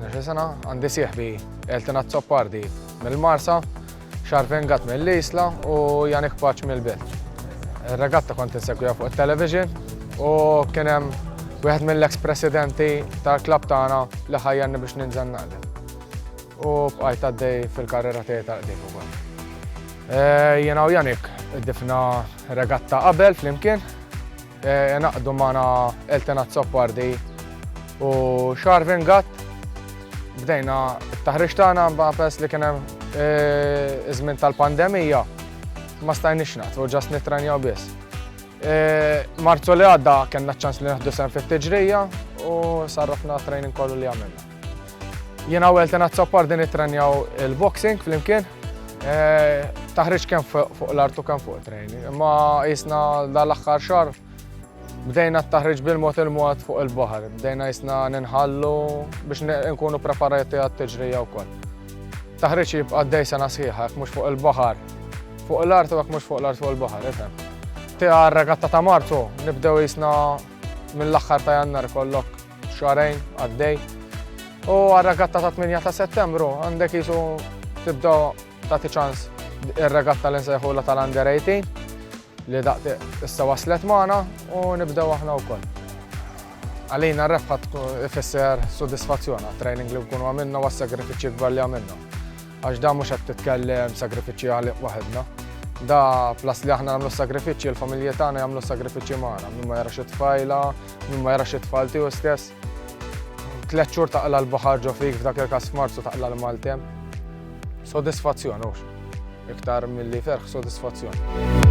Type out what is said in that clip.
Nexe sena għandi sieħbi Elton Azzopardi mill-Marsa, Xarpen Gat mill-Isla u Janik Paċ mill-Belt. Il-regatta kont insegwija fuq il-television u kienem wieħed mill-ex presidenti tal-klab tagħna li ħajjanni biex ninżan naqdem. U bqajt għaddej fil-karriera tiegħi tal-qdim ukoll. Eh, Jena u Janik id-difna regatta qabel flimkien Ingħaqdu magħna Elton Azzopardi u Sharvin Gatt. Bdejna t-taħriġ tagħna ma' peress li kien hemm iż-żmien tal-pandemija ma stajniex naqtgħu ġast nittrenjaw biss. Marzu li għadda kellna ċ-ċans li nieħdu sehem fit-tiġrija u sarrafna t-training kollu li għamilna. Jiena u Elton Azzoppar din ittrenjaw il-boxing flimkien. Eh, taħriġ kemm fuq l-artu kemm fuq trejni. Imma jisna dal-aħħar xar bdejna t-taħriġ bil-mod il-mod fuq il-baħar. Bdejna jisna ninħallu biex nkunu preparati għat-tiġrija wkoll. Taħriġ jibqa' dej sena sħiħa, mhux fuq il-baħar. Fuq l-art u mhux fuq l-art fuq il-baħar, ifhem. Tiegħu regatta ta' Marzu nibdew jisna mill-aħħar ta' jannar kollok Xarajn għaddej. U għal-regatta ta' 8 ta' settembru għandek jisu tibda ta' ċans il-regatta li nsejħula tal-under 18 li daqti issa waslet maħna u nibdew aħna u koll. Għalina rebħat fisser soddisfazzjona, training li nkunu għamilna u għas-sagrifiċi gbar li għamilna. Għax da mhux qed titkellem sagrifiċċji għalih waħedna. Da plas li aħna nagħmlu sagrifiċċji, il-familji tagħna jagħmlu sagrifiċċji magħna, min ma jarax it-tfajla, min ma jarax it-tfal tiegħu stess. Tliet xhur taqla l-baħar ġo fik f'dak il-każ f'Marzu taqla l-Maltem. Sodisfazzjon hux. Iktar milli ferħ sodisfazzjon.